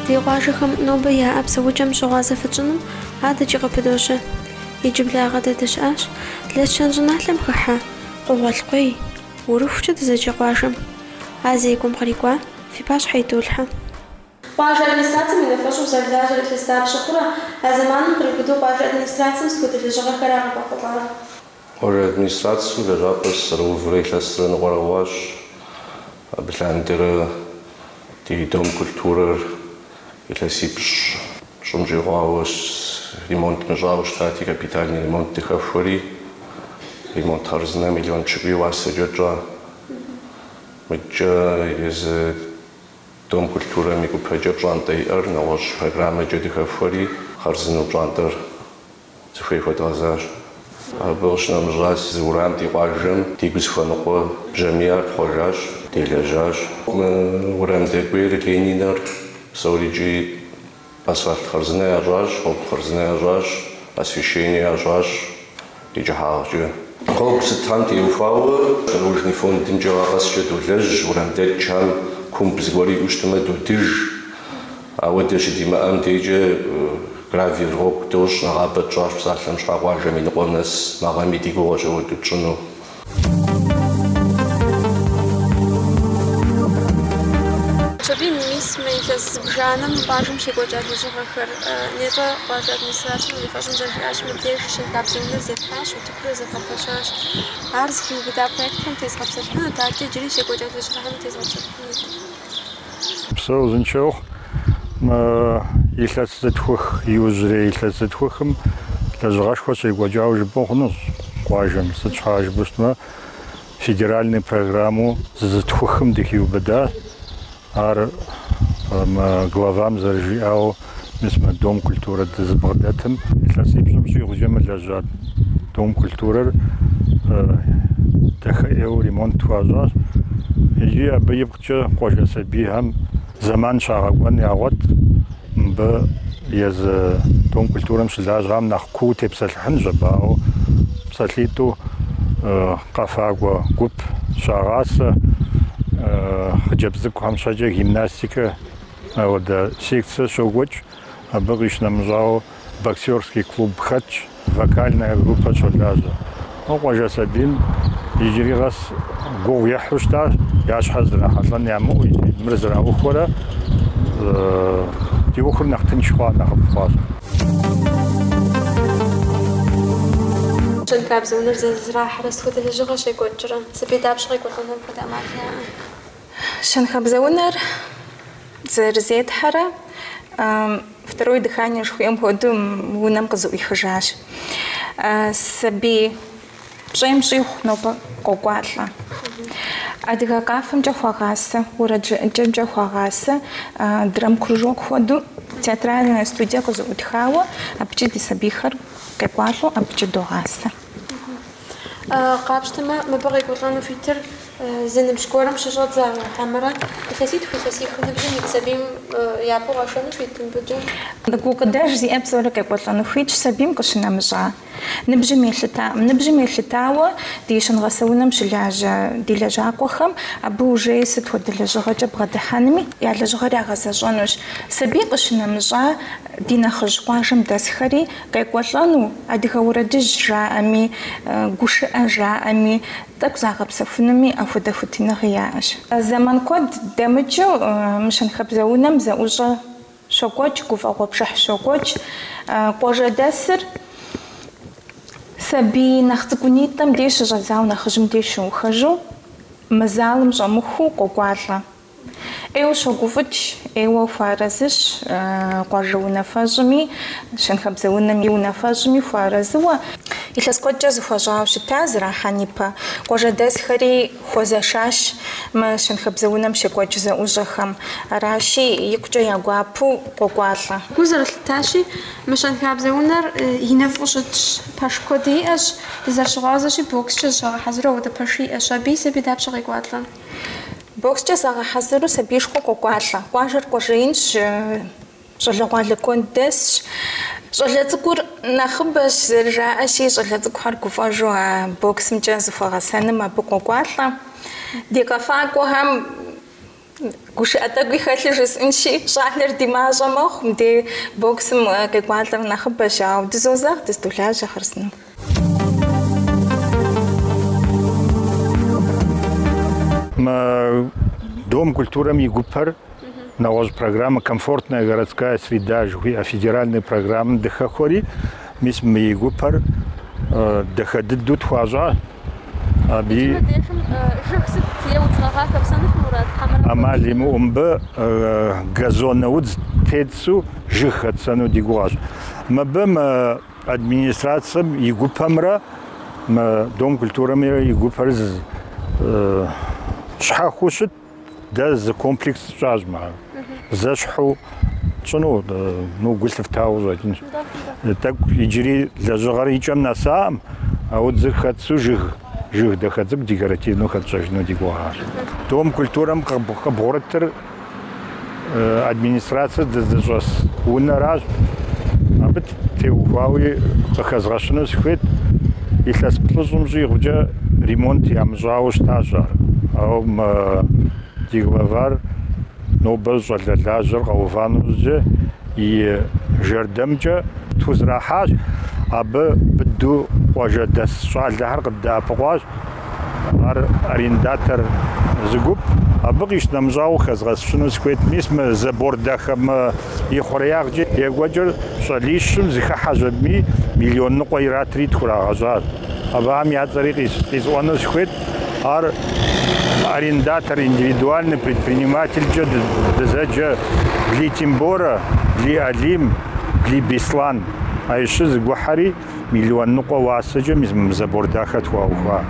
Ди къуажэхэм нобэ яӏэ псэукӏэм щыгъуазэ фытщӏыным адэкӏи къыпыдощэ. Иджыблагъэ дэ дыщыӏащ Лэскэн щӏыналъэм хыхьэ Къугъуэлъкъуей, Урыхукӏэ дызэджэ къуажэм. А зекӏуэм кърикӏуа фи пащхьэ идолъхьэ. Къуажэ администрацэм и унафэщӏу узэрылажьэр илъэс дапщэ хъурэ а зэманым къриубыдэу къуажэ администрацэм сыт хуэдэ лэжьыгъэхэра къывэхъулӏар? Къуажэ администрацэм лэжьапӏэ сызэрыуврэ илъэсрэ ныкъуэрэ хъуащ. Абы лъандэрэ ди Дом культурэр илъэсипщӏ щӏым щӏигъуауэ ремонт мыщӏауэ щытати, капитальный ремонт дыхэхуэри, ремонт хъарзынэ миллион пщыкӏуий и уасэкӏэ тщӏа. Мыдкӏэ езы. Дом культурэм и гупэкӏэ пщӏантӏэ иӏэр нэгъуэщӏ программэкӏэ дыхэхуэри, хъарзынэу пщӏантӏэр зыхуей хуэдгъэзащ. Абы къыщынэмыщӏа, зы уэрам ди къуажэм дигу зыхуэныкъуэ бжьамийр тхъуэжащ, делэжьащ. Мы уэрам дэкӏуейр Лениныр псори икӏи Асфальт хъарзынэ ящӏащ, гъуэгу хъарзынэ ящӏащ, освещение ящӏащ и кӏыхьагъкӏэ. Гъуэгу сытхэм теухуауэ Дорожный фондымкӏэ гъэ къэскӏэ долэжь, уэрам дэкӏхэм кумб зыгуэр иӏэу щытмэ, додыж. Ауэ дэ щыдимыӏэм дейкӏэ гравиер гъуэгу дощӏ, нэгъабэ тщӏащ псалъэм щхьэ къуажэм и ныкъуэм нэс, мы гъэми ди гугъэщ апхуэдэу тщӏыну. Хьэжбий, мис мы илъэс зыбжанэм къуажэм щекӏуэкӏа лэжьыгъэхэр нетӏэ къуажэ администрацэм и унафэщӏым зэрыжиӏащи, мыбдеж щэнхабзэ унэр зефхьащ, утыкур зэвгъэпэщащ. Ар зыхиубыда проектхэм тезгъэпсэлъыхьынут, адэкӏэ иджыри щекӏуэкӏа лэжьыгъэхэми тезгъэпсэлъыхьынут. Упсэу, узыншэ ухъу, мы илъэс зытхух иужьрей илъэс зытхухым лэжьыгъэшхуэ щекӏуэкӏауэ жыпӏэу хъунущ къуажэм. Сыт щхьа жыпӏэу щытмэ, федеральный программэу зы зытхухым дыхиубыдащ. Ар мы главам зэрыжиӏауэ, мис мы Дом культурэ дызыбгъэдэтым. Илъэсипщӏым щӏигъукӏэ мылэжьа Дом культурэр дахэ ӏейуэ ремонт хуащӏащ икӏи абы ипкъкӏэ къуажэ сабийхэм зэман щагъэкӏуэн ягъуэт. Мыбы езы Дом культурэм щылажьэхэм нэхъ куууэ тепсэлъыхьынщ абы, ауэ псалъитӏу къэфакӏуэ гуп щагъасэ, хъыджэбз цӏыкӏухэм щхьэкӏэ гимнастикэ, Ауэдэ секцэ щокӏуэкӏ, абы къищынэмыщӏауэ боксерский клуб хэтщ, вокальная группэ щолажьэ. Къуажэ сабийм иджыри къэс гугъу ехьу щытащ, я щхьэр зрахьэлӏэн ямыӏэу икӏи мыр зэраухуэрэ ди ӏуэхур нэхъ тынш хъуа, нэхъыфӏ хъуащ. Щэнхабзэ унэр зэрызэрахьэрэ сыт хуэдэ лэжьыгъэ щекӏуэкӏрэ? Сабий дапщэ къекӏуэлӏэну апхуэдэ ӏэмал яӏэ? Щэнхабзэ унэр зэрызетхьэрэ второе дыхание жыхуиӏэм хуэдэу унэм къызэӏуихыжащ. Сабий пщӏейм щӏигъу нобэ къокӏуалӏэ. Адыгэ къафэмкӏэ хуагъасэ, уэрэд жыӏэкӏэмкӏэ хуагъасэ драмкружок хуэдэу театральная студие къызэӏутхауэ, абыкӏи ди сабийхэр къекӏуалӏэу абыкӏи догъасэ. Къапщтэмэ, мыбы къекӏуэлӏэну хуитыр зы ныбжь гуэрым щыщӏэдзауэ хьэмэрэ илъэситху илъэсих ныбжьым ит сабийм япэу къэшэну хуит мыбыкӏэ? Гукъыдэж зиӏэ псори къекӏуэлӏэну хуитщ сабийм къыщынэмыщӏа. Ныбжьым елъыта, ныбжьым елъытауэ ди щэнгъэсэ унэм щылажьэ ди лэжьакъуэхэм абы ужеи сыт хуэдэ лэжьыгъэкӏэ бгъэдыхьэнми я лэжьыгъэр ягъэзэщӏэнущ. Сабий къыщынэмыщӏа ди нэхъыжь къуажэм дэсхэри Къекӏуэлӏэну, адыгэ уэрэдыжь жаӏэми, гушыӏэ жаӏэми, тӏэкӏу загъэпсэхунуми апхуэдэ хуитыныгъи яӏэщ. Зэман куэд дэмыкӏыу мы щэнхабзэ унэм зэӏущӏэ щокӏуэкӏ, гуфӏэгъуэ пшыхь щокӏуэкӏ. Къуажэдэсыр сабий нэхъ цӏыкӏунитӏэм деж щыщӏэдзауэ нэхъыжьым деж щиухыжу, мы залым щӏэмыхуу къокӏуалӏэ. ӏейуэ щогуфӏыкӏ, ӏейуэ хуэарэзыщ къуажэ унафэщӏми, щэнхабзэ унэм и унафэщӏми хуэарэзыуэ. Илъэс куэдкӏэ зэхуэщӏауэ щыта зэрахьэн ипэ къуажэдэсхэри хуэзэшащ мы щэнхабзэ унэм щекӏуэкӏ зэӏущӏэхэм, аращи, икъукӏэ я гуапэу къокӏуалӏэ. Гу зэрылъыттащи, мы щэнхабзэ унэр иныфӏу щытщ, пэш куэди иӏэщ, дызэрыщыгъуазэщи, бокскӏэ зыщагъэхьэзыру ауэдэ пэши иӏэщ, абы сабий дапщэ къекӏуалӏэ? Бокскӏэ загъэхьэзыру сабийшхуэ къокӏуалӏэ. Къуажэр къуажэ инщ, щӏалэгъуалэ куэд дэсщ. Щӏалэ цӏыкӏур нэхъыбэщ, зэрыжаӏэщи, щӏалэ цӏыкӏухэр гуфӏэжу а боксымкӏэ зыхуэгъэсэным абы къокӏуалӏэ. Ди къэфакӏуэхэм гушыӏэ тӏэкӏуи хэлъу жысӏынщи, щӏалэр ди мащӏэ мэхъу, мыдэ боксым къекӏуалӏэр нэхъыбэщ, ауэ дызозэгъ дыздолажьэ хъарзынэу. Мы Дом культурэм и гупэр нэгъуэщӏ программэ «Комфортная городская среда» жыхуиӏэ федеральнэ программэм дыхэхуэри, мис мы и гупэр дахэ дыдэу тхуащӏащ. Абы ӏэмал имыӏэу мыбы газонэ удз тетсэу жыг хэтсэну ди гугъэщ. Мыбы мы Администрацэм и гупэмрэ мы Дом культурэмрэ и гупэр щхьэхуэу щыт, дэ зы комплекс щӏащ мы ар. Зэщхьу тщӏыну, ну, гу лъыфтауэ щӏэкӏынщ. Тӏэкӏу иджыри лэжьыгъэр и кӏэм нэсакъым, а удзыр хэтсэу жыг, жыг дахэ цӏыкӏу декоративнэу хэтщӏэжыну ди гугъащ. Дом культурэм къыбгъурытыр администрацэ дызыщӏэс унэращ. Абы теухуауи къыхэзгъэщыну сыхуейт. Илъэс плӏыщӏым щӏигъукӏэ ремонт ямыщӏауэ щытащ ар. Ауэ мы ди главар нобэ щӏалэ лажьэр къэува нэужькӏэ и жэрдэмкӏэ тхузэрахьащ. Абы быдэу къуажэдэс щӏалэхэр къыддэӏэпыкъуащ. Ар арендатор зы гуп, абы къищынэмыщӏауэ къыхэзгъэщыну сыхуейт. Мис мы забор дахэ мы ихъуреягъкӏэ екӏуэкӏыр щӏалищым зэхыхьэщ аби миллион ныкъуэ иратри тхурагъэщӏащ. Абыхэм я цӏэри къисӏуэну сыхуейт. Ар арендатор, индивидуальный предпринимателькӏэ дызэджэ Блий Тимборэ, Блий Алим, Блий Бислан. А щыр зэгухьэри. Миллион ныкъуэ уасэкӏэ мис мы забор дахэр тхуаухуа.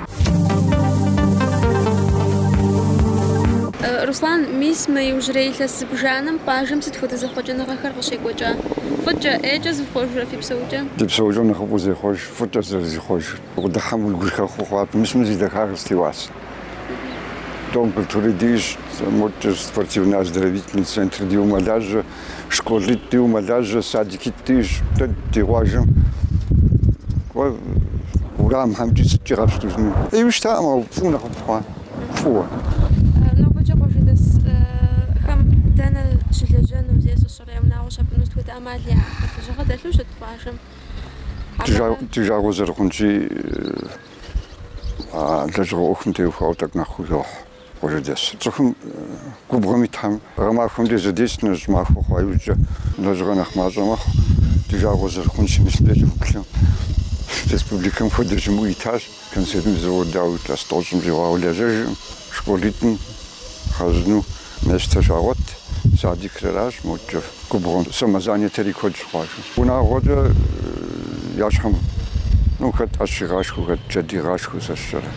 Руслан, мис мы иужьрей илъэс зыбжанэм къуажэм сыт хуэдэ зэхъуэкӏыныгъэхэр къыщекӏуэкӏа? Фӏыкӏэ, ӏейкӏэ зихъуэжрэ фи псэукӏэм? Ди псэукӏэм нэхъыфӏу зехъуэж фӏыкӏэ зэрызихъуэжыр. Укъыдыхьэм уи гур хэхъуэу хъуат, мис мы зи дахагъэр сыт и уасэ? Дом культурэ диӏэщ, модкӏэ, спортивнэ-оздоровительнэ центр диӏэу мэлажьэ, школитӏ диӏэу мэлажьэ, садикитӏи дэтщ ди къуажэм. Уэрамхэмкӏи сыткӏи къэпщтэжыну ӏейуи щытакъым, ауэ фӏыуэ нэхъыфӏ хъуа, фӏыуэ. Нобэкӏэ къуажэдэсхэм дэнэ щылэжьэну зесӏыщӏэр, я унагъуэ щапӏыну сыт хуэдэ ӏэмал яӏэ? Лэжьыгъэ дэлъу щыт къуажэм? Ди жагъуэ зэрыхъунщи, лэжьыгъэ ӏуэхум теухуауэ тӏэкӏу нэхъ гугъу йохь. Къуажэдэс цӏыхум губгъуэм итхэм гъэмахуэм де зэдест, ну щӏымахуэ хъуа иужькӏэ лэжьыгъэ нэхъ мащӏэ мэхъу, ди жагъуэ зэрыхъунщи мыщэмкӏэ кӏыфӏыплъым. Республикэм хуэдэ щымыӏэу итащ, консервнэ завод, ауэ илъэс тӏощӏым щӏигъуауэ лэжьэжыркъым, школитӏым лэжьэну местэ щагъуэт, садикрэращ, модкӏэ. Губгъуэм самозанятэри куэд щыхъуащ. Унагъуэкӏэ я щхьэм ну хэт ӏэщ игъашхэу, хэт джэд игъашхэу сэ сщӏэрэ.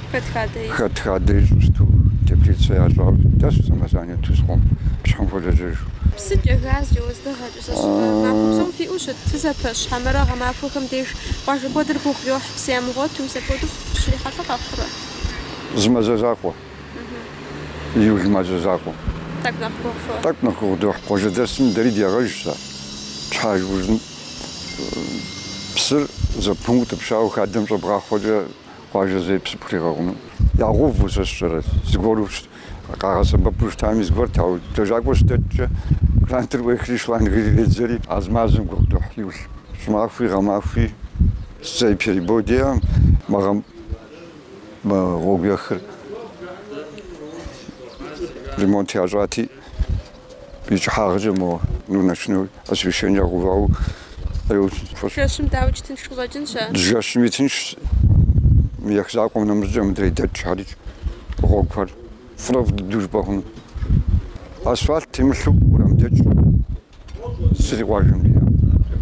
Хэт хадэ ищӏу сыту, теплицэ ящӏауэ дэсу самозанятэу сыхъуэм, и щхьэм хуолэжьэж. Псыкӏэ, газкӏэ, уэздыгъэкӏэ сэ сщӏэрэ. Махуэ псом фиӏэу щыт, фызэпэщ, хьэмэрэ гъэмахуэхэм деж къуажэ куэдыр гугъу йохь, псы ямыгъуэту, мис апхуэдэу фыщрихьэлӏэ къэхъурэ? Зы мазэ закъуэ. Июль мазэ закъуэ. Тӏэкӏу нэхъ гугъу фохь. Тӏэкӏу нэхъ гугъу дохь. Къуажэдэсым дэри ди ягъэжщ сэ. Щхьэж ужын псыр зэпымыу утӏыпщауэ хадэм щӏэбгъахъуэкӏэ къуажэ зэи псы пхуригъэкъуну. Ягъэувэу сэ сщӏэрэ, зыгуэру къагъэсэбэпу щытами зыгуэрт, ауэ лэжьакӏуэ щыдэкӏкӏэ кӏрантыр ӏуехри шланг иредзэри а зы мазэм гугъу дохь июль. Щӏымахуи гъэмахуи зэи перебой диӏэкъым, мы гъэм Гъуэгу ехыр ремонт ящӏати, и кӏыхьагъкӏэ мо ну ночной освещение ягъэувауэ къеуцӏ. Жэщым дауэ тынш къыщӏэкӏынщ а? Жэщыми тыншщ, ех закъуэм нэмыщӏкӏэ мыдрей дэкӏ хьэрыкӏ гъуэгухэр фӏырэфӏ дыдэу жыпӏэ хъуну. Асфальт темылъу уэрам дэкӏ. зыри къуажэм иӏэ.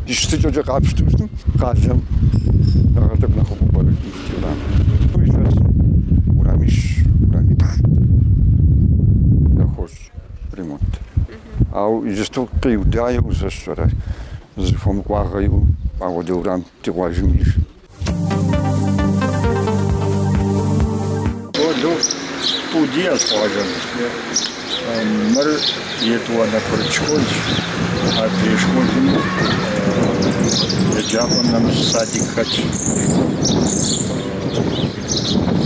Ди щытыкӏэкӏэ къапщту щытым къалэм нэхърэ тӏэкӏу нэхъыфӏу пӏэрэ ди урам. Ту илъэсым урамищ, урамиплӏ яхуощӏ ремонт. Ау иджысту къиудауэ узэщэрэ зыхуэмыкӏуагъэ иӏэу апхуэдэ урам ди къуажэм иӏэж. Школу тӏу диӏэщ къуажэм. Мыр етӏуанэ курыт школщ. Адрей школым еджапӏэм нэмыщӏ садик хэтщ.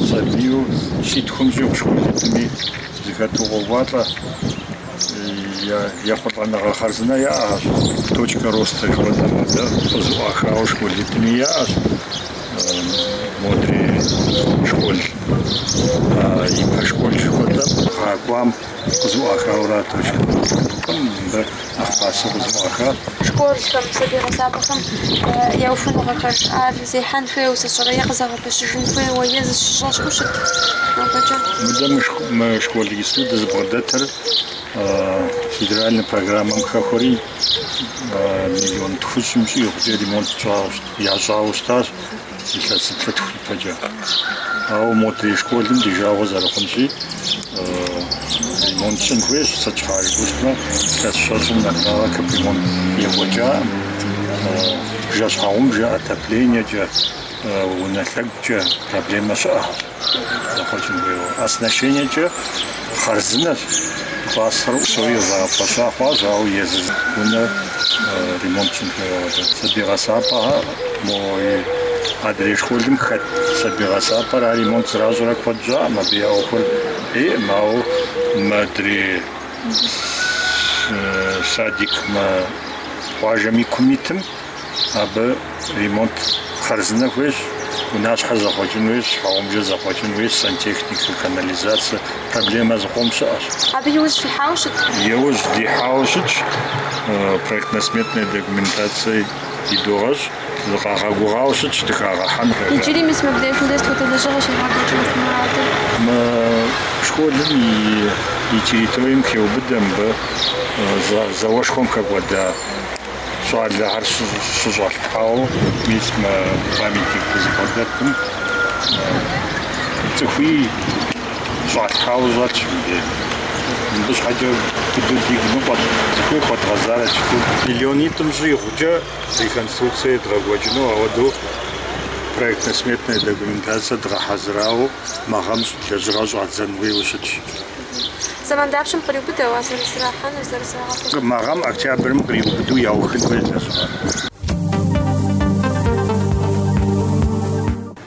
Сабийуэ щитхум щӏигъу школитӏми зыхэту къокӏуалӏэ. Ехъулӏэныгъэ хъарзынэ яӏэщ, точка роста жыхуэтӏэм адэ къызыӏуахауэ школитӏми яӏэщ, модри школ, ипэ школ жыхуэтӏэм гъэ кӏуам къызыӏуахауэрэ а точка роста гупым мыбы нэхъ пасэу къызыӏуахащ. Школхэм, сабий гъэсапӏэхэм я ухуэныгъэхэр, ар зехьэн хуейуэ зыщӏрэ е Пэщыжын хуейуэ е зыщыщӏэ щыӏэу щыт абэкӏэ? Мыдэ мы мы школ иджыпсту дызыбгъэдэтыр федеральнэ программэм хэхуэри миллион тхущӏым щӏигъукӏэ ремонт ящӏауэ щытащ илъэсиплӏ-тху ипэкӏэ. Ауэ модрей школым ди жагъуэ зэрыхъунщи ремонт щӏын хуейщ, сыт щхьа жыпӏэмэ илъэс щэщӏым нэблагъэ капремонт екӏуэкӏакъым, бжэ-щхьэгъубжэ, отоплениекӏэ. унэ лъэгукӏэ проблемэ щыӏэу зэхъуэкӏын хуейуэ. Оснащениекӏэ хъарзынэщ, классхэр псори къызэгъэпэща хъуащ, ауэ езы унэр ремонт щӏын хуейуэ абы. Сабий гъэсапӏэхэр, мо адрей школым хэт сабий гъэсапӏэр ар ремонт зэращӏрэ куэд щӏакъым, абы я ӏуэхур ӏейкъым, ауэ мыдрей садик, мы къуажэм и кум итым, Абы ремонт хъарзынэ хуейщ, унащхьэр зэхъуэкӏын хуейщ, щхьэгъубжэр зэхъуэкӏын хуейщ, сантехникэ, канализацэ проблемэ зыкъом щыӏэщ. Абы иужь фихьауэ щыт? Иужь дихьауэ щытщ, проектно-сметнэ документацэ идогъэщӏ, дыкъагъэгугъауэ щытщ дыхагъэхьэн. Иджыри мис мыбдежым дэ сыт хуэдэ лэжьыгъэ щевгъэкӏуэкӏыну фи мурадыр? Мы школым и территорием хеубыдэ мыбы зауэшхуэм хэкӏуэда. щӏалэхэр щыщӏалъхьауэ мис мы памятник дызыбгъэдэтым цӏыхуи щӏалъхьауэ щытщ мыбдеж. Мыбы щхьэкӏэ дыдэу дигу ныкъуэт, зыхуей хуэдгъэзарэт жытӏэу. Миллионитӏым щӏигъукӏэ реконструкцие едгъэкӏуэкӏыну ауэдэу проектно-сметное документацие дгъэхьэзырауэ мы гъэм лэжьыгъэ щӏадзэн хуейуэ щытщ. Зэман дапщэм къриубыдэу, а зэрызэрахьэнур, зэрызэрагъэпэщынур? Мы гъэм октябрым къриубыдэу яухын хуейщ дэ щыгъуэ.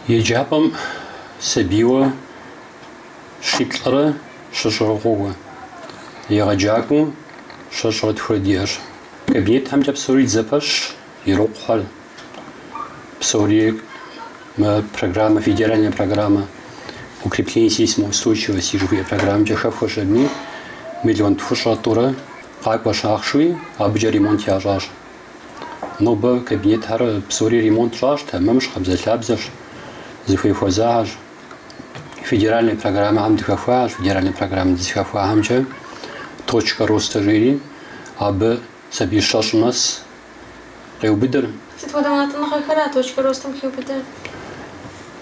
Еджапӏэм сабийуэ щиплӏрэ щэщӏрэ къокӏуэ. Егъэджакӏуэу щэщӏрэ тхурэ диӏэщ. Кабинетхэмкӏэ псори дызэпэщщ. Ирокъухэр псори мы программэ, федеральная программа укрепления сейсмоустойчивости жыхуиӏэ программкӏэ хэхуэщ аби, миллион тхущӏрэ тӏурэ къакӏуэщ ахъшэуи, абыкӏэ ремонт ящӏащ. Нобэ кабинетхэр псори ремонт щӏащ, тэмэмщ, къабзэлъабзэщ, зыхуей хуэзахэщ. Федеральная программэхэм дыхэхуащ, федеральная программэ дызыхэхуахэмкӏэ точка роста жери, абы Сабий щэщӏ нэс къеубыдыр. Сыт хуэдэ унэтӏыныгъэхэра а точкэ ростым хиубыдэр?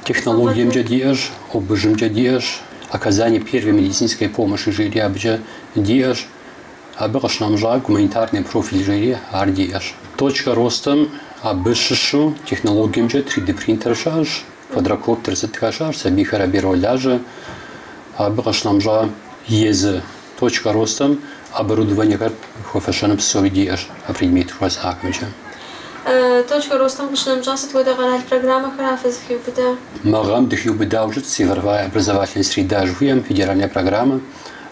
Технологиемкӏэ диӏэщ, ОБЖ-мкӏэ диӏэщ, оказание первой медицинской помощи жери абыкӏэ диӏэщ, абы къыщынэмыщӏа гуманитарный профиль жери ар диӏэщ. Точкэ ростым абы щыщу технологиемкӏэ три ди принтер щыӏэщ, квадрокоптер сытхэр щыӏэщ, сабийхэр абы иролажьэ, абы къыщынэмыщӏа езы. Точка ростам оборудованиехэр хуэфэщэну псори диӏэщ а предмет жыхуэсӏахэмкӏэ. Точка ростам къыщынэмыщӏа сыт хуэдэ къэрал программэхэра фызыхиубыда? Мы гъэм дыхиубыдауэ щытщ Цифровая образовательная среда жыхуиӏэм федеральная программэ,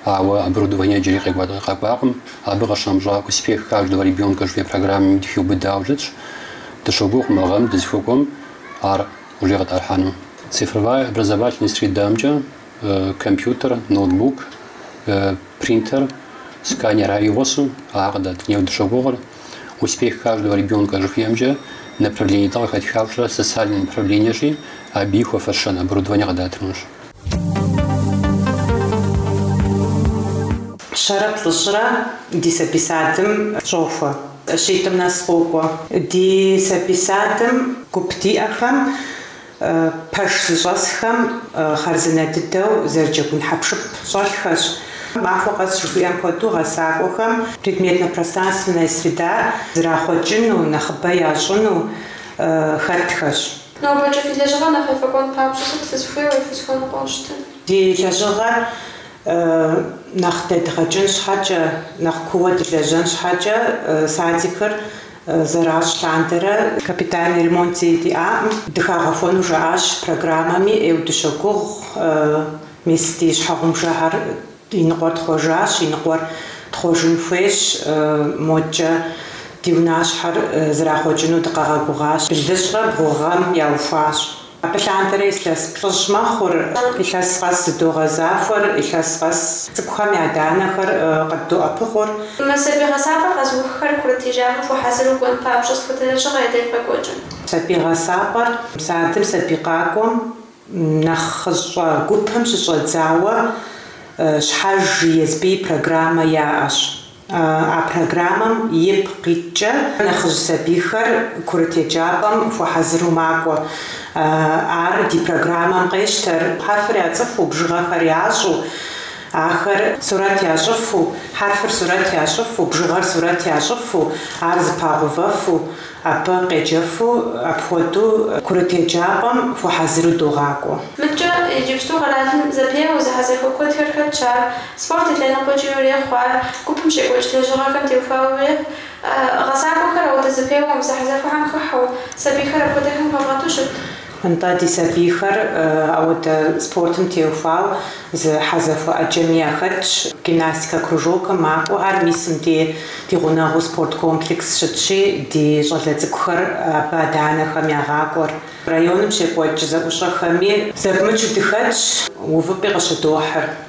ауэ оборудование иджыри къэкӏуакъым. Абы къыщынэмыщӏа Успех каждого ребенка жыхуиӏэ программэми дыхиубыдауэ щытщ. Дыщогугъ мы гъэм дызыхуэкӏуэм ар уже къытӏэрыхьэну. Цифровая образовательная средамкӏэ компьютер, ноутбук, принтер, сканер ар и гъусэу къыдатыну дыщогугъыр. Успех каждого ребенка жыхуиӏэмкӏэ направление дэ къыхэтхауэ щытыр социальное направлениещи абы хуэфэщэн оборудование къыдатынущ. Щэрэ плӏыщӏрэ ди сабий садым щохуэ. Щитӏым нэс къокӏуэ. Ди сабий садым гуп диӏэхэм. Пэш зыщӏэсхэм хъарзынэ дыдэу зэрыджэгун хьэпшып щӏэлъхэщ. Махуэ къэс жыхуиӏэм хуэдэу гъэсакӏуэхэм предметно-пространственная среда зрахъуэкӏыну, нэхъыбэ ящӏыну хэтхэщ. Нобэкӏэ фи лэжьыгъэр нэхъ ефӏэкӏуэн папщӏэ сыт фызыхуейуэ, фызыхуэныкъуэу щытыр? Ди лэжьыгъэр нэхъ дэдгъэкӏын щхьэкӏэ, нэхъ кууэ дылэжьэн щхьэкӏэ садикыр Зэращӏ лъандэрэ капитальный ремонт зэи диӏаӏым. Дыхагъэхуэну жаӏащ программэми, ӏейу дыщогугъ. Мис ди щхьэгъумжэхэр и ныкъуэр тхъуэжащ, и ныкъуэр тхъуэжын хуейщ. Модкӏэ ди унащхьэр зрахъуэкӏыну дыкъагъэгугъащ. Блыщӏрэ бгъу гъэм яухуащ. Абы лъандэрэ илъэс плӏыщӏ мэхъур, илъэс къэс зыдогъэзахуэр, илъэс къэс цӏыкӏухэм я адэ-анэхэр къыддоӏэпыкъур. Мы сабий гъэсапӏэ къэзыуххэр курыт еджапӏэм хуэхьэзыру кӏуэн папщӏэ сыт хуэдэ лэжьыгъэ я деж къекӏуэкӏыр? Сабий гъэсапӏэр садым сабий къакӏуэм нэхъыщӏэ гупым щыщӏэдзауэ щхьэж езым и программэ яӏэщ. А программэм ипкъ иткӏэ нэхъыжь сабийхэр курыт еджапӏэм хуэхьэзыру макӏуэ. Ар ди программэм къещтэр хьэрфыр яцӏыхуу, бжыгъэхэр ящӏэу, ахэр сурэт ящӏыфу, хьэрфыр сурэт ящӏыфу, бжыгъэр сурэт ящӏыфу, ар зэпагъэувэфу. Абы къеджэфу апхуэдэу курыт еджапӏэм хуэхьэзыру догъакӏуэ. Мыдкӏэ иджыпсту къэралым зэпеуэу зэхьэзэхуэ куэдхэр хэтщ ар. Спорт и лъэныкъуэкӏи урехъу ар, гупым щекӏуэкӏ лэжьыгъэхэм теухуауэ урехъу. Гъэсакӏуэхэр ауэдэ зэпеуэм, зэхьэзэхуэхэм хыхьэу, сабийхэр апхуэдэхэм хэвгъэту щыт Нтӏэ, ди сабийхэр ауэдэ спортым теухуауэ зэхьэзэхуэ ӏэджэми яхэтщ. Гимнастикэ кружокым макӏуэхэр. Мис мыбдей ди гъунэгъуу спорт комплекс щытщи, ди щӏалэ цӏыкӏухэр абы адэ-анэхэм ягъакӏуэр. Районым щекӏуэкӏ зэӏущӏэхэми зэпымычу дыхэтщ, увыпӏи къыщыдохьыр.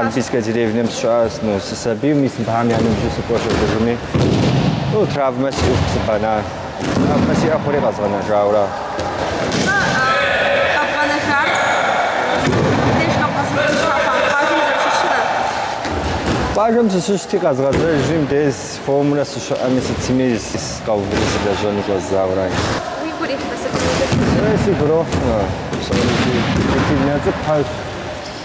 Олимпийскэ деревнэм сыщыӏащ. Ну, сысабийм мис абыхэм я ныбжьу сыкӏуэ шыргыжми, ну, травмэ сиӏэу сыбана. Травмэ сиӏэ хъури къэзгъэнэжаура. Къэбгъэнэжам мыбдеж къэбгъэзэжын щӏэхъуар? Къуажэм узэрыщыщыра? Къуажэм сыщыщти, къэзгъэзэжри, мыбдеж хуэмурэ сыщыӏэми, сытми сыкъэуври сылэжьэну щӏэздзаура. Уигу ирихьрэ сытым и дэ сыщыщӏар? Уей, сигу ирохьмэ, псори си дисциплинэ цӏыкӏухэщ.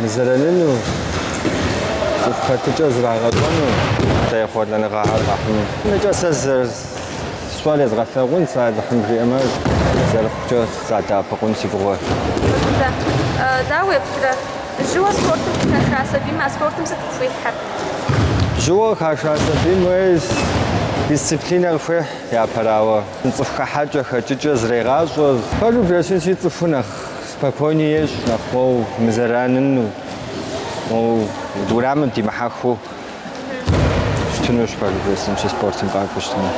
Мызэраныну, цӏыху хэтыкӏэ зрагъэщӏэну, ехъулӏэныгъэхэр къахьыну. Нэкӏэ сэ сщӏэр езгъэлъагъун, сэ Алыхьым жиӏэмэ, зэрыхъукӏэ садэӏэпыкъун си гугъуэ. Мыхъунтэ. Дауэ уеплърэ? Жьыуэ спортым къыхаша сабийм а спортым сыт къыхуихьыр? Жьыуэ къыхаша сабийм уей дисциплинэ къыхуехь, япэрауэ, цӏыху хэхьэкӏэ, хэкӏыкӏэ зрегъащӏэ. Пэжу, бжесӏэнщи, цӏыхуу нэхъ Спокойнэ ещӏ нэхъ моуэ мызэраныну моуэ урамым димыхьэхыу щытынущ пэжу бжесӏэнщи спортым къакӏуэу щытмэ.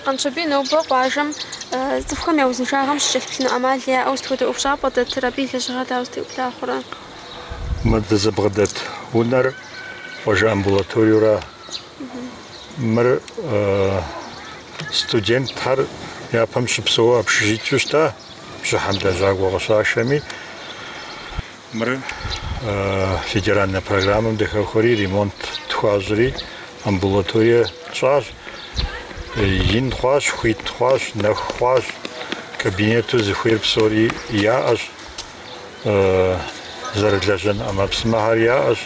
Къанщобий нобэ къуажэм цӏыхухэм я узыншагъэм щыкӏэлъыплъыну ӏэмал яӏэу сыт хуэдэ ӏуэхущӏапӏэ дэтыр, абы и лэжьыгъэр дауэ зытеубла хъурэ? Мы дызыбгъэдэт унэр къуажэ амбулаториеура? Мыр студентхэр япэм щыпсэу общежитиеу щыта, бжьыхьэм лэжьакӏуэ къыщашэми. Мыр федеральнэ программэм дыхэхуэри, ремонт тхуащӏри, амбулаторие тщӏащ. Ин хъуащ, хуит хъуащ, нэху хъуащ, кабинету зыхуейр псори яӏэщ. зэрылэжьэн ӏэмэпсымэхэр яӏэщ.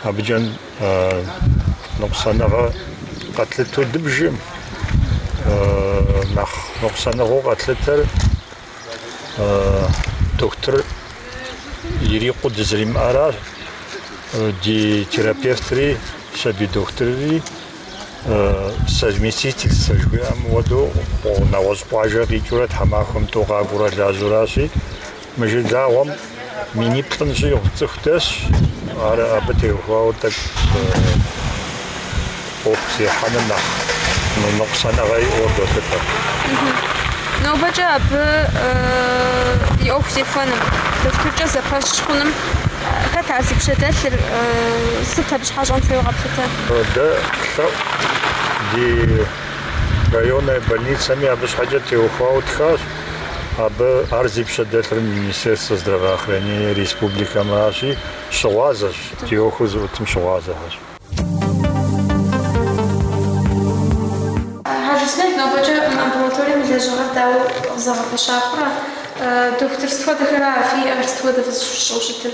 Абыкӏэ ныкъусаныгъэ къэтлъыту дыбжым нэхъ ныкъусаныгъэу къэтлъытэр дохутыр ирикъуу дызэримыӏэращ. Ди терапевтри, сабий дохутырри совместительствэ жыхуиӏэм хуэдэу нэгъуэщӏ къуажэ къикӏыурэ тхьэмахуэм тӏу къакӏуурэ лажьэуращи, мы жылагъуэм миниплӏым щӏигъу цӏыху дэсщ, ар абы теухуауэ тӏэкӏу ӏуэху зехьэным нэхъ ныкъусаныгъэ иӏэуэ долъытэ. Нобэкӏэ абы и ӏуэху зехуэным, дохутыркӏэ зэпэщ хъуным хэт ар зи пщэдэлъыр, сыт абы щхьэкӏэ щӏэн хуейуэ къэплъытэ? Дэ лъэӏу ди районнэ больницэми абы щхьэкӏэ теухуауэ ттхащ. Абы ар зи пщэ дэлъыр Министерствэ здравоохранения республикэмращи, щыгъуазэщ, ди ӏуэху зыӏутым щыгъуазэхэщ. Хьэжысмел, нобэкӏэ мы амбулаторием и лэжьыгъэр дауэ къызэгъэпэща хъурэ? Дохутыр сыт хуэдэхэр ара фиӏэр, сыт хуэдэ фызыщыщӏэу щытыр?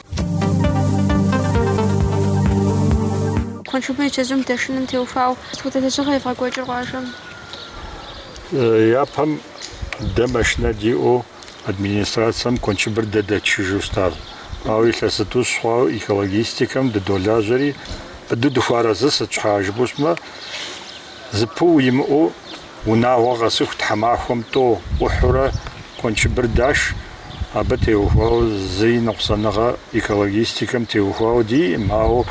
Куэншыбыр и чэзум дэшыным теухуауэ сыт хуэдэ лэжьыгъэ евгъэкӏуэкӏыр къуажэм? Япэм дэ машинэ диӏэу администрацэм куэншыбыр дэ дэтшыжу щытащ. Ауэ илъэс зытӏущ хъуауэ экологистикэм дыдолажьэри, быдэу дыхуэарэзыщ, сыт щхьа жыпӏэу щытмэ, зэпыу имыӏэу Унагъуэ къэсыху тхьэмахуэм тӏэу ӏухьурэ куэншыбыр даш, абы теухуауэ зыи ныкъусаныгъэ экологистикэм теухуауэ диӏым, ауэ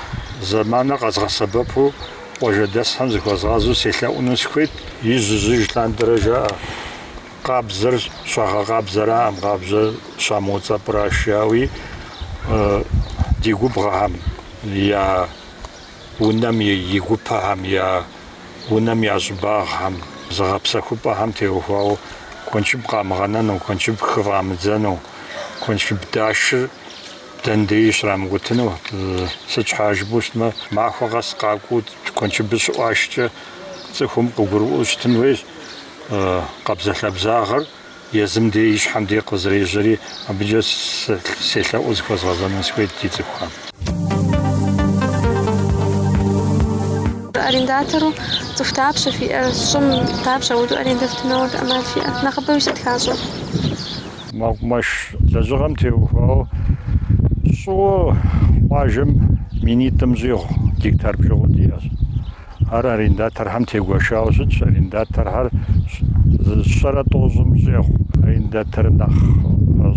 зэманыр къэзгъэсэбэпу къуажэдэсхэм зыхуэзгъэзу селъэӏуну сыхуейт. Ижъ-ижъ лъандэрэ жаӏэ, къабзэр щагъэкъабзэраӏэм, къабзэр щамыуцӏэпӏыращ, жаӏэуи ди губгъэхэм я унэм и гупэхэм я унэм я щӏыбагъхэм, зыгъэпсэхупӏэхэм теухуауэ куэншыб къамыгъэнэну, куэншыб хыфӏамыдзэну, куэншыб дашыр дэн деи щрамыкӏутыну, сыт щхьа жыпӏэу щытмэ, махуэ къэс къакӏуэу куэншыбыр щыӏуашкӏэ цӏыхум къыгурыӏуэу щытын хуейщ къабзэ-лъабзагъэр Езым дей и щхьэм дей къызэрежьэри, абыкӏэ селъэӏуу зыхуэзгъэзэну сыхуейт ди цӏыхухэм. Арендатору цӏыху дапщэ фиӏэр? Щӏым дапщэ апхуэдэу арендэ фтыну ӏэмал фиӏэр? Нэхъыбэуи сыт хащӏэр? Мэкъумэш лэжьыгъэм теухуауэ щӏыуэ къуажэм минитӏым щӏигъу гектар бжыгъэу диӏэщ. Ар арендаторхэм тегуэшауэ щытщ, арендаторхэр зы щэрэ тӏощӏым щӏегъу арендатор нэхъ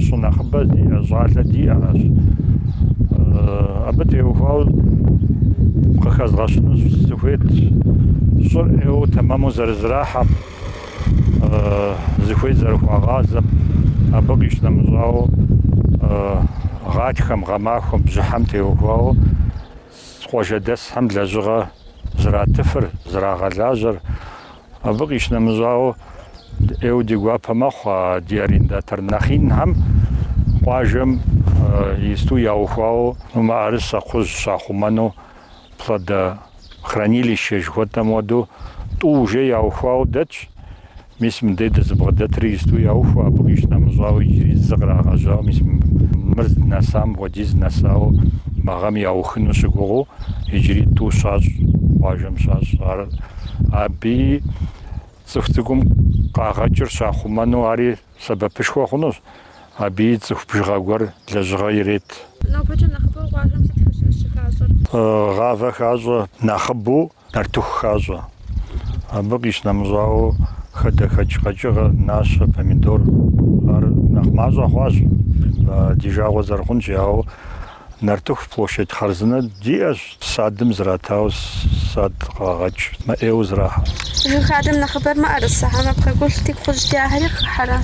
щӏы нэхъыбэ зиӏэ щӏалэ диӏэращ. Абы теухуауэ къыхэзгъэщыну сыхуейт, щӏыр ӏейуэ тэмэму зэрызэрахьэм, зыхуей зэрыхуагъазэм, абы къищынэмыщӏауэ, гъатхэм, гъэмахуэм, бжьыхьэм теухуауэ, Къуажэдэсхэм лэжьыгъэ зратыфыр, зрагъэлажьэр, абы къищынэмыщӏауэ, ӏейуэ ди гуапэ мэхъу а ди арендатор нэхъинхэм къуажэм исту яухуауэ мыӏэрысэ кхъужь щахъумэну, плодохранилище жыхуэтӏэм хуэдэу, тӏу уже яухуауэ дэтщ. Мис мыдей дызыбгъэдэтри исту яухуэ, абы къищынэмыщӏауэ иджыри зы кърагъэжьауэ, мис мыр зынэсам хуэдиз нэсауэ мы гъэм яухыну щыгугъыу, иджыри тӏу щащӏ, къуажэм щащӏ. Ар абы цӏыху цӏыкӏум къагъэкӏыр щахъумэну ари сэбэпышхуэ хъунущ, аби цӏыху бжыгъэ гуэр лэжьыгъэ ирет. Нобэкӏэ нэхъыбэу къуажэм сыт щыхащӏэр? Гъавэ хащӏэ. Нэхъыбэу Нартыху хащӏэ. Абы къищынэмыщӏауэ, хадэхэкӏ къэкӏыгъэ, нащэ, помидор, ар нэхъ мащӏэ хъуащ, ди жагъуэ зэрыхъунщи. Ауэ нартыху площадь хъарзынэ диӏэщ, садым зратауэ, сад къагъэкӏ, мыӏейуэ зэрахьэ. Жыг хадэм нэхъыбэр мыӏэрысэ, хьэмэ пхъэгулъти кхъужь дяхьэри хыхьэрэ,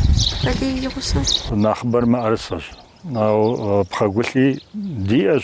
балий и гъусэу? Нэхъыбэр мыӏэрысэщ, ауэ пхъэгулъи диӏэщ,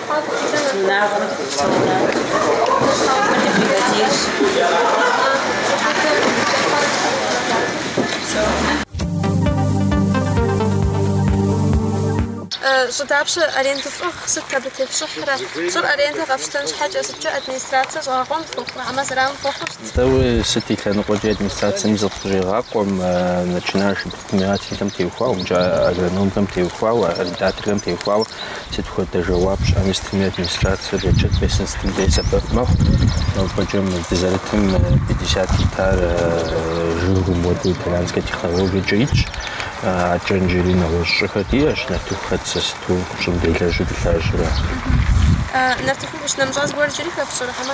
унагъуэм дыхуэпсэуна тхьэкӏумэкӏэ дывэдейщ. Щӏы дапщэ арендэу фӏыгъ, сыт абы тефщӏыхьрэ? Щӏыр арендэ къэфщтэн щхьэкӏэ сыткӏэ администрацэ щӏэгъэкъуэн фхуэхъу, хьэмэ зэран фхуэхъурэ? Дауи, сыт и лъэныкъуэкӏи администрацэм зыкъыщӏегъакъуэ, начинающим. предпринимателхэм теухуауэ, мкӏэ агрономхэм теухуауэ, арендаторхэм теухуауэ сыт хуэдэ жэуап щыӏэми сытми администрацэр отчет къесын сытым дей сэбэп мэхъу. Нобэкӏэ мы дызэрытым 50 гектар жыгыу модэ итальянскэ технологиекӏэ итщ. Адэкӏэ иджыри нэгъуэщӏ щӏыхэр диӏэщ, нартыху хэтсэ, сыту щӏым делэжьу дылажьэрэ. Нартыхум къищынэмыщӏа зыгуэр иджыри хэфщӏэрэ, хьэмэ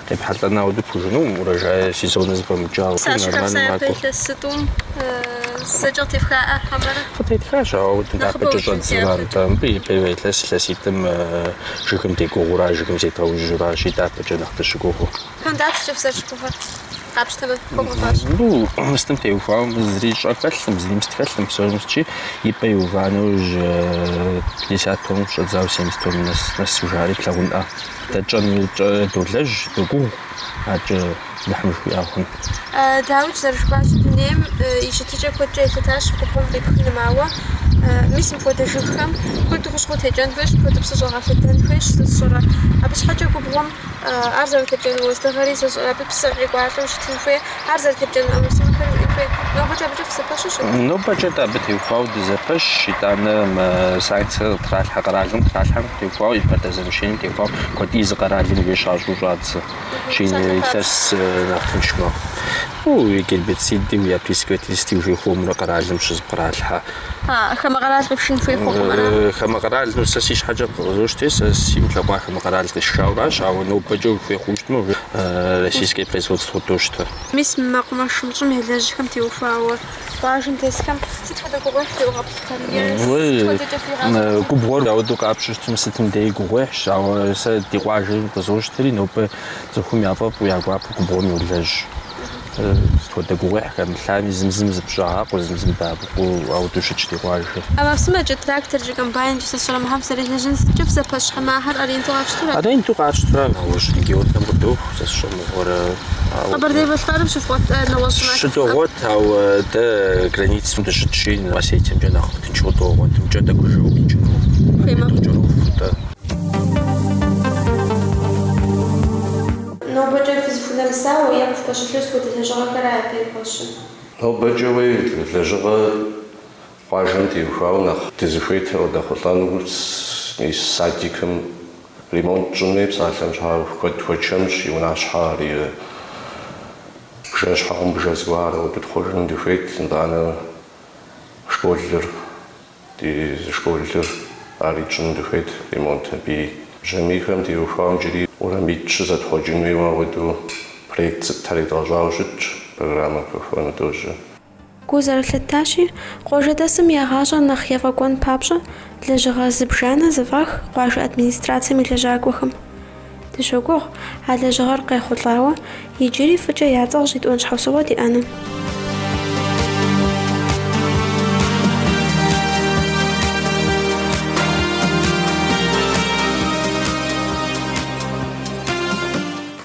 Къепхьэлӏэну дыпхужыну урожай сезон зыфӏэмыкӏауэ. Сащи хапса япэ илъэситӏум зэкӏэ къытефхаӏэ хьэмэрэ? Къытетхащ, ауэ удым дяпэкӏэ щӏэт зырант. Мыбы ипэрей илъэс илъэситӏым жыгым дегугъура, жыгым зедгъэужьуращи, дяпэкӏэ нэхъ дыщыгугъу? Тон дапщкӏэ фызэрыщыгугъыр? Къапщтэмэ, хуэбгъэфащэ. Мыбы мыстым теухуауэ зыри щӏэ хэлъым, зыри мыст хэлъым, псори мыстчи, и пӏэ иува нэужь пятьдесят тонн къыщӏэдзауэ семьдесят тонн нэс нэсу, жари плъагъунӏэ. Дэ тщӏэн дощӏэ, долэжь, догугъу адэкӏэ Алыхьым жыхуиӏэ хъунщ. Дауи, зэрыжыфӏащи, дунейм и щытыкӏэ куэдкӏэ елъытащ губгъуэм къипхыным, ауэ, мис, мыпхуэдэ жыгхэм куэду хущхъуэ текӏэн хуейщ, мыпхуэду псы щӏэгъэлъэдэн хуейщ, сэ сщӏэрэ. Абы щхьэкӏэ губгъуэм ар зэрытепкӏэну уэздыгъэри сщӏэрэ, абы псы къекӏуалӏэу щытын хуей. Ар зэрытепкӏэн щӏыпӏэхэр иджы нобэкӏэ абыкӏэ фызэпэщу щыт? Нобэкӏэ-тӏэ абы теухуауэ дызэпэщ, итӏанэ мы санкцэр къытралъхьэ къэралым, къытралъхьэм теухуауэ, импортозамещением теухуауэ куэд езы къэралым щащӏу щӏадзэщи, илъэс нэхъ тынш мэхъу. Гербицидым я представительствэм жей хуэмурэ къэралым щызэпкъралъхьэ. Хамэ къэрал къифшын хуей хъукъым ара? Хамэ къэралыр сэ си щхьэкӏэ къызощтэри, сэ сигу лъэкӏуа хамэ къэрал къисшауращ, ауэ нобэкӏэ хуей хъуу щытмэ, российское производство дощтэ. Мис мэкъумэшым, щӏым елэжьхэм теухуауэ къуажэм тесхэм сыт хуэдэ гугъуехь теугъэплъхэр е сыт хуэдэкӏэ фигъащӏэти? Губгъуэр ауэдэу къапщтэу щытми, сытым деи гугъуехьщ, ауэ сэ ди къуажэми къызощтри, нобэ цӏыхум яфӏэфӏу, я гуапэу губгъуэм йолэжь. Сыт хуэдэ гугъуехь хэмылъами, зым-зым зыщӏагъакъуэ, зым-зым дэӏэпыкъуу ауэдэу щытщ ди къуажэм. А машинэкӏэ тракторкӏэ, комбайнкӏэ сыщӏрэмыхьэм срилэжьын сыткӏэ фызэпэщ хьэмэрэ аренду къафщтэрэ? Аренду къатщтурэ, нэгъуэщӏ регионхэм къыдоху, сэ сщӏэмыгъуэрэ. Къэбэрдей Балъкъэрым щывгъуэт нэгъуэщӏ махуэ. Щыдогъуэт, ауэ дэ границэм дыщытщи, Осетиемкӏэ нэхъ тынш къыдогъуэт, мкӏэ дэ гужьыгъэу къикӏыну апхуэдэу кӏэроху-тӏэ. Нобэкӏэ фызыхунэмысауэ е къыфпэщылъыр сыт хуэдэ лэжьыгъэхэра япэ ипэщым? Нобэкӏэ уей лэжьыгъэ къуажэм теухуауэ нэхъ дызыхуейтэр къыдэхъулӏэну, мис садикым ремонт етщӏынуи псалъэм щхьа куэд хуэчэмщ, и унащхьэ ари и бжэ-щхьэгъубжэ зыгуэрхэр къыдытхъуэжыну дыхуейт, итӏанэ школыр. Ди зы школыр ари тщӏыну дыхуейт, ремонт абыи. Бжьамийхэм теухуауэ иджыри уэрамитӏ щызэтхъуэкӏынуи ауэдэу проект сытхэри едгъэщӏауэ щытщ, программэм хэхуэну дожьэ. Гу зэрылъытащи, къуажэдэсым я гъащӏэр нэхъ ефӏэкӏуэн папщӏэ лэжьыгъэ зыбжанэ зэфӏах къуажэ администрацэм и лэжьакӏуэхэм. Дыщогугъ а лэжьыгъэр къехъулӏауэ, иджыри фӏыкӏэ я цӏэр щӏитӏуэн щхьэусыгъуэ диӏэну.